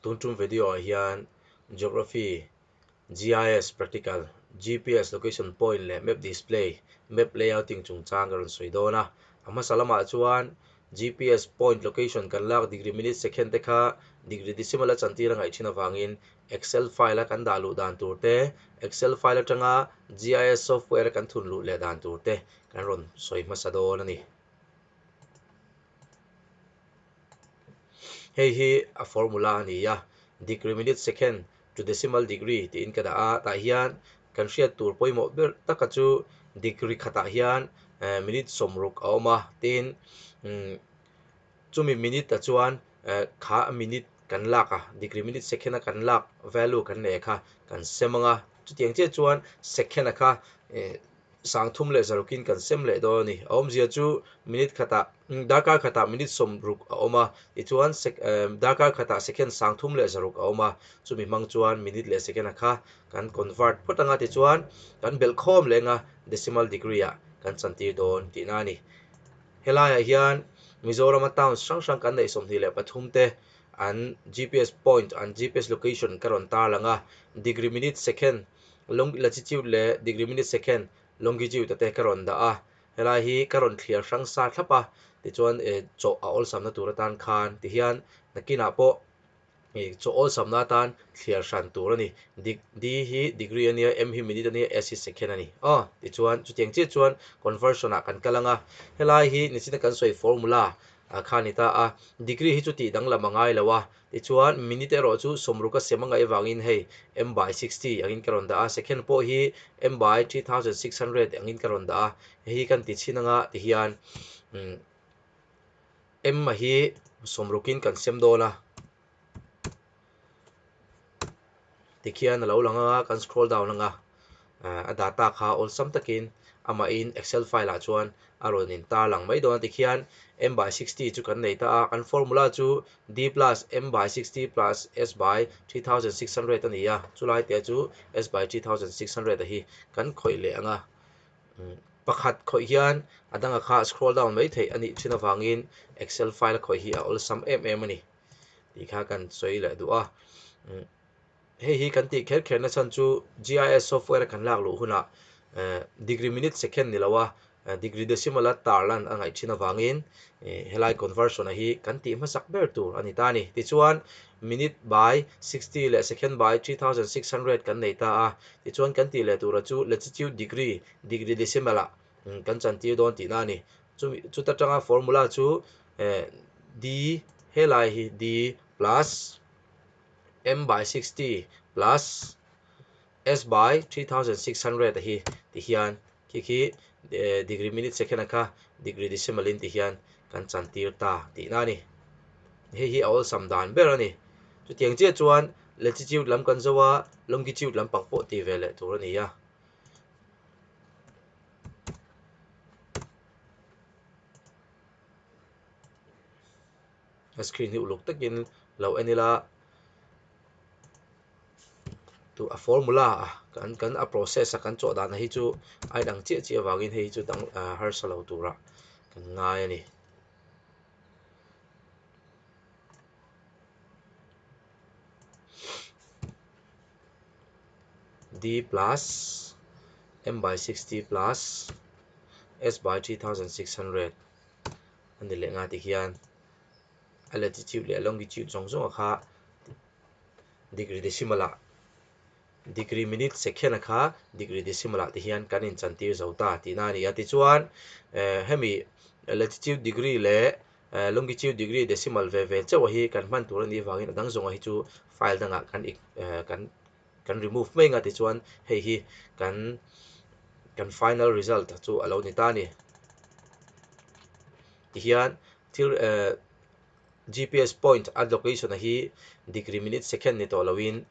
Tun tum video ah hian Geography, GIS Practical, GPS Location Point leh Map Display, Map Layouting chungchang ka rawn sawi dawn a. A hmasa lamah chuan GPS point location kan lak degree minute second te kha degree decimal a chantir a ngaih thin avangin Excel file a kan dah luh dan tur te, Excel file atanga GIS software a kan thun luh leh dan tur te kan rawn sawi hmasa dawn a ni. Hei hi a formula a ni a, degree minute second to decimal degree tiin ka dah a, tah hian kan hriat tur pawimawh ber taka chu degree khatah hian minute sawm ruk a awm a, tin chumi minute-a chuan kha minute kan lak a, degree minute second a kan lak value kan nei a kha kan se mang a, chutiang chiah chuan second a kha. sangthum leh zarhawkin kan sem leh dawn a ni. A awmzia chu minute khatah, darkar khatah minute sawm ruk a awm a, tichuan darkar khatah second sangthum leh zarhuk a awm a, chumi hmang chuan minute leh second a kha kan convert phawt ang a, tichuan kan belh khawm leh ang a, decimal degree ah kan chantir dawn tih na a ni. Helaiah hian Mizorama towns hrang hrang kan neih sawmhnih leh pathum te an GPS point, an GPS location ka rawn tarlang a, degree, minute, second, Long latitude leh degree minute second longitude ate ka rawn dah a, helai hi ka rawn thliar hrang sa thlap a, tichuan eh chaw a awlsam na tur atan khan tihian nakinah pawh eh chaw awlsam na atan thliar hran tur a ni, dig D hi degree a nia, M hi minute a nia, S hi second a ni aw, tichuan chutiang chiah chuan conversion ah kan kal ang a, helai hi nichina kan sawi formula ah khan a ni ta a, degree hi chu tih dang lam a ngai lo a, Tichuan, minute erawh chu sawmru ka sem a ngaih avangin hei m by sixty angin ka rawn dah a, second pawh hi m by three thousand six hundred angin ka rawn dah a, hei hi kan ti chhin anga tihian m-a hi sawmrukin kan sem dawn a. tikhian a lo lang a, kan scroll down anga a data kha awlsam takin amahin excel file ah chuan a rawn in tar lang mai dawn a tikhian m by sixty chu kan nei ta a, kan formula chu d plus m by sixty plus s by three thousand six hundred a ni a, chulai te chu s by three thousand six hundred hi kan khawih leh ang a, pakhat khawih hian a dang a kha scroll down mai theih a nih thin avangin excel file a khawih hi a awlsam em em a ni. Tih kha kan sawi leh duh a. Hei hi kan tih kher kher nasa chu GIS software a kan lak luh hunah degree minute second ni loa degree decimal a tar lan a ngaih thin avangin helai conversion a hi kan tih hmasak ber tur a ni ta a ni. Tichuan minute by sixty leh second by three thousand six hundred kan nei ta a. Tichuan kan tih leh tura chu latitude degree degree decimal ah. Kan chan tir dawn tihna a ni. Chumi chuta tanga formula chu D helai hi D plus M by sixty plus S by three thousand six hundred a hi tih hian khi khi degree minute second ang kha degree decimal in tih hian kan chan tir ta tihna a ni. Hei hi a awlsam dan ber a ni. Chutiang chiah chuan latitude lam kan zo a longitude lampang pawh ti ve leh tur a ni a. a screen hi uluk takin lo en ila tu a formula a kan kan a process a kan chawh danah hi chu a inang chiah chiah vangin hei hi chu dang ah harsa lo tura kan ngai a ni. D plus M by sixty plus S by three thousand six hundred a ni leh nga tih hian a latitude leh a longitude zawng zawng a kha degree decimal ah degree minute second a kha degree decimal ah te hian kan in chan tir zo ta tihna a ni a tichuan eh hemi latitude degree leh Ehh, longitude, degree, decimal ve ve chauha hi kan hman tur a nih vangin a dang zawnga hi chu file dangah kan ig ehh kan kan remove mai nga tichuan hei hi kan kan final result chu a lo ni ta a ni. Tihian thil ehh gps point a location a hi degree minute second ni tawh lohin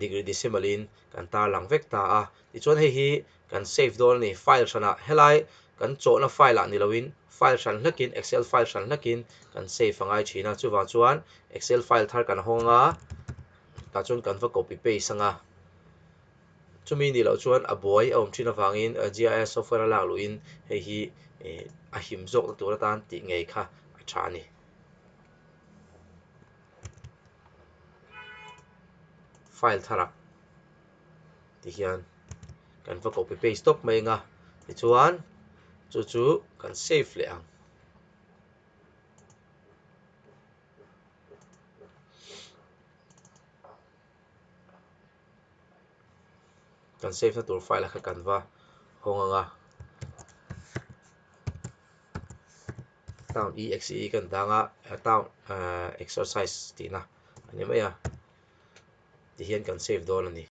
degree decimal in kan tarlang vek ta a. Tichuan hei hi. kan save dawn a ni, file hranah helai kan chawhna file ah ni loin file hran hlekin excel file hran hlekin kan save a ngai thin a, chuvang chuan excel file thar kan hawng anga tah chuan kan va copy paste anga chumi nih loh chuan a buai a awm thin avangin gis software a lak luhin hei hi a him zawk na tur atan tih ngei kha a tha a ni. File thar ah. tih hian kan va copy paste tawp mai anga tichuan chu chu kan save leh ang kan save na tur file a kha kan va hawng anga town exe kan dang a town exercise tihna a ni mai a. ti hian kan save dawn a ni.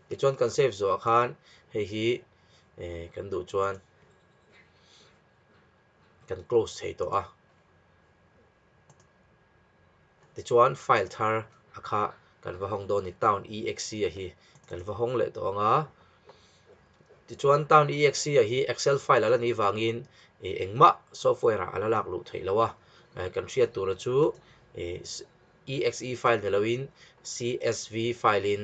Tichuan kan save zawhah khan hei hi eh kan duh chuan kan close thei tawh a. Tichuan file thar a kha kan va hawng dawn a ni town exe a hi kan va hawng leh tawh ang a. Tichuan town exe a hi excel file a la nih vangin eh engmah software ah a la lak luh theih lo a. Eh kan hriat tura chu eh. exe file ni loin csv file in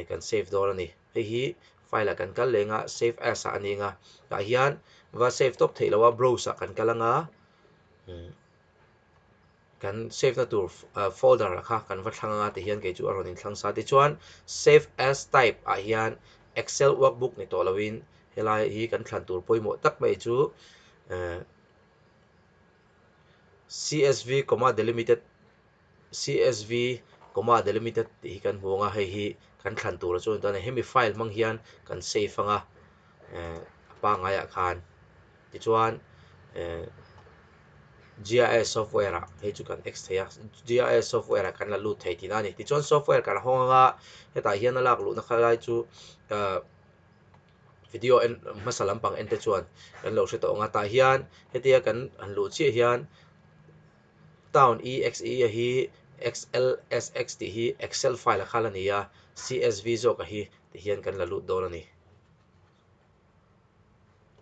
kan save dawn a ni hei hi file ah kan kal leng a save as ah a ning a tah hian va save tawp theih lo a browse ah kan kal ang a kan save na tur folder ah kha kan va thlang ang a ti hian kei chu a rawn in thlang sa te chuan save as type ah hian excel workbook ni tawh loin helai hi kan thlan tur pawimawh tak mai chu. csv comma delimited csv comma delimited tih hi kan hmu ang a hei hi kan thlan tura chuan a ni ta a ni hemi file hmang hian kan save ang a eh a pangngai ah khan tichuan eh ziah software ah hei chu kan exit theih a ziah software ah kan la lut thei tihna a ni tichuan software kan hawng anga hetah hian a lak luhna kha lai chu ah. video en hmasa lampang en te chuan kan lo hre tawh ang a tah hian hetia kan han luh chiah hian town exe a hi xlsx tih hi excel file a khal a ni a csv zawk a hi tih hian kan la lut dawn a ni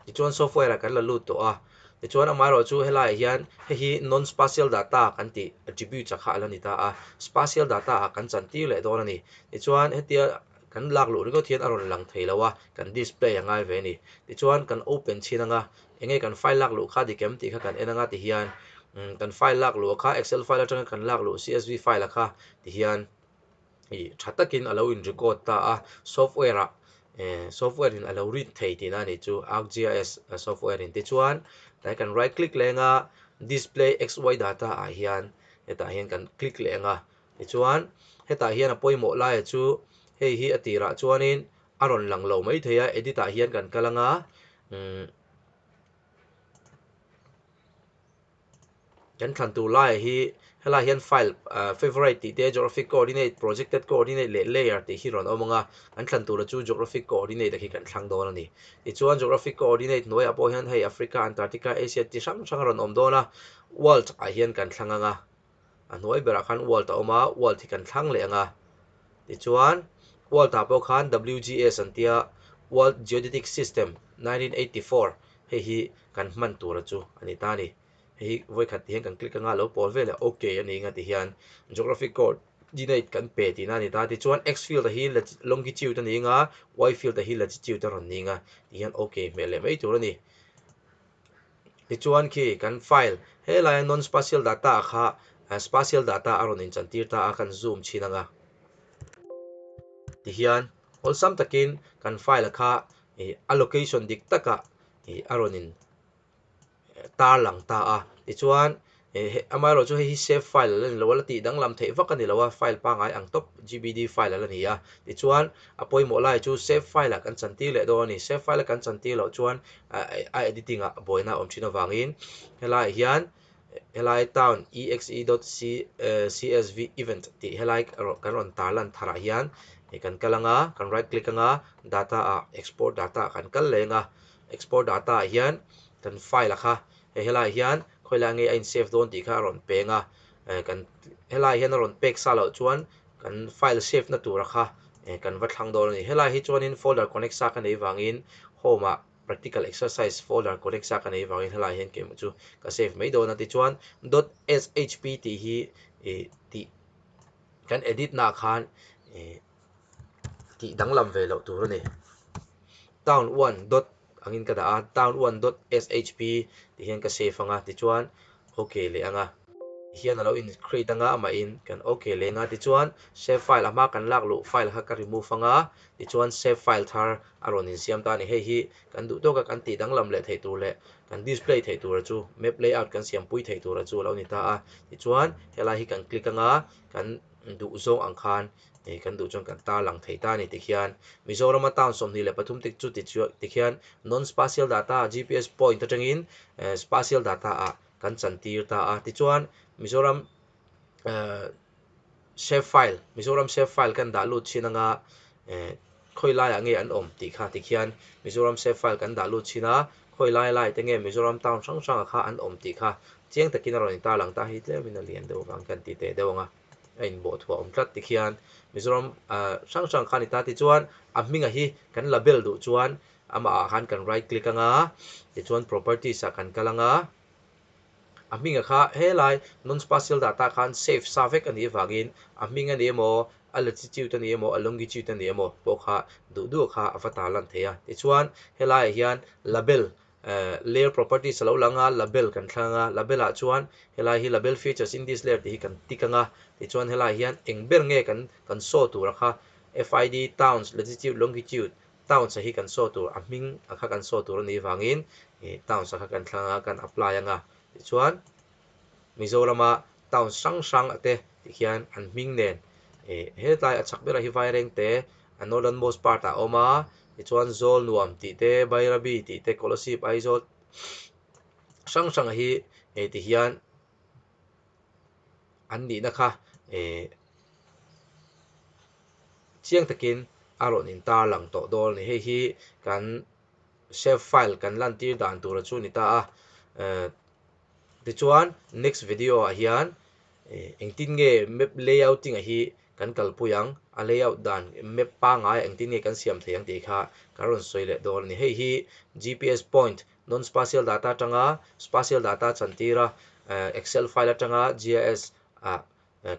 tichuan software a kan la lut tawh a tichuan amah erawh chu he laiah hian hei hi non spatial data kan tih attributes a kha a la ni ta a spatial data ah kan chan tir leh dawn a ni tichuan hetia. Kan lak luh ringawt hian a rawn lang thei lo a, kan display a ngai ve a ni. Tichuan kan open chhin ang a, enge kan file lak luh kha dik em tih kha kan en ang a ti hian, umm kan file lak luh kha excel file atanga kan lak luh csv file a kha ti hian ih tha takin a lo in record ta a, software ah eh software in a lo read thei tih na a nih chu, arcgis software in. Tichuan tlai kan right click leh ang a, display xy data ah hian hetah hian kan click leh ang a, Tichuan, hetah hian a pawimawh laia chu hei hi a tirah chuanin a rawn lang lo maithei a, edit ah hian kan kal anga umm kan thlan tur laia hi helaiah hian file ahh favourite tih te geographic coordinate, projected coordinate leh layer tih hi rawn awm anga kan thlan tura chu geographic coordinate ah khi kan thlang dawn a ni. Tichuan, geographic coordinate hnuaiah pawh hian hei Africa, Antarctica, Asia ti hrang hrang a rawn awm dawn a, world ah hian kan thlang anga. a hnuai berah khan wall ta awm a wall thik an thlang leh ang a tichuan wall tah pawh khan WGS an tia World Geodetic System nineteen eighty four hei hi kan hman tura chu a ni ta a ni hei hi vawi khat tih hian kan click anga lo pawl vel a ok a ning a tih hian Geography coordinate kan pe tihna a ni ta tichuan x field a hi longitude a ning a y field a hi latitude a rawn ning a tih hian ok hmel leh mai tur a ni. Tichuan khi kan file helaiah nonspatial data a kha spatial data a rawn inchantir ta a, kan zoom chhin anga ti hian awlsam takin kan file a kha ih a location dik takah ih a rawn in tarlang ta a. Tichuan E heh, amaherawhchu hei hi save file a la ni lo a, la tih danglam theih vak a ni lo a, file pangai ang tawp GBD file a la ni a. Tichuan, a pawimawh lai chu save file ah kan chantir leh dawn a ni. Save file a kan chantir loh chuan a editing ah buaina awm thin avangin helaiah hian helai town exe dot csv event tih helai kan rawn tar lan tharah hian kan kal anga, kan right click anga data ah export data kan kal leh anga export data ah hian kan file a kha He helai hian khawilai ngei a in save dawn tih kha a rawn peng a, eh kan helai hian a rawn pek sa loh chuan kan file save na tura kha eh kan va thlang dawn a ni. Helai hi chuanin folder connect sa ka nei vangin home ah practical exercise folder connect sa ka nei vangin helai hian keimawh chu ka save mai dawn a tichuan dot shp tih hi ih tih kan edit na khan ih. tih danglam ve loh tur a ni. Town one dot angin ka dah a, town one dot SHP tih hian ka save anga tichuan ok leh anga. Tih hian a lo in create anga amahin kan ok leh anga tichuan save file a hma kan lak luh file kha ka remove anga tichuan save file thar a rawn in siam ta a ni. Hei hi kan duh tawk a kan tih danglam leh theih tur leh kan display theih tura chu map layout kan siam pui theih tura chu a lo ni ta a. Tichuan helai hi kan click anga kan duh zawng ang khan Hei kan duh chuan kan tarlang thei ta a ni tikhian Mizorama town sawmhnih leh pathum tik chu tikhian non spatial data GPS point atangin spatial data ah kan chan tir ta a tichuan Mizoram save file Mizoram save file kan dah lut chhin anga khawi lai ah nge an awm tih kha tikhian Mizoram save file kan dah lut chhin a khawi lai lai te nge Mizoram town hrang hrang ah kha an awm tih kha chiang takin a rawn in tarlang ta hi tlem in a lian deuh vang kan ti teh deuh ang a. a in bawh thuah awm tlat tikhian Mizoram hrang hrang khan i ta tichuan a hming a hi kan la bel duh chuan amah ah khan kan right click anga tichuan properties ah kan kal anga a hming a kha helai non spatial data khan save sa vek a nih avangin a hming a ni emaw a latitude a ni emaw a longitude a ni emaw pawh kha duh duh a kha a va ta lan thei a tichuan helai ah hian label Layer Properties a lo lang a, Label kan thlang anga, Label ah chuan helai hi Label Features in this layer tih hi kan tik anga, tichuan helaiah hian eng ber nge kan kan show tur a kha, FID, Towns, Latitude, Longitude, Towns a hi kan show tur, a hming a kha kan show tur a nih vangin, Towns a kha kan thlang a, kan apply anga, tichuan. Mizorama town hrang hrang te tih hian an hming nen eh hetlai a chak berah hi Vaireng te a northern most part ah a awm a tichuan Zawlnuam tih te Bairabi tih te Kolasib Aizawl hrang hrang ah hi eh ti hian an nihna kha eh chiang takin a rawn in tar lang tawh dawn a ni hei hi kan save file kan lantir dan tur a chu a ni ta a eh. Tichuan, next video ah hian engtin nge map layouting a hi kan kalpui ang, a layout dan map pangai ah engtin nge kan siam thei ang tih kha kan rawn sawi leh dawn a ni. Hei hi GPS point, non spatial data atanga spatial data chan tira excel file atanga GIS ah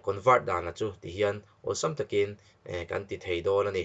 convert dan a chu tihian awlsam takin kan ti thei dawn a ni.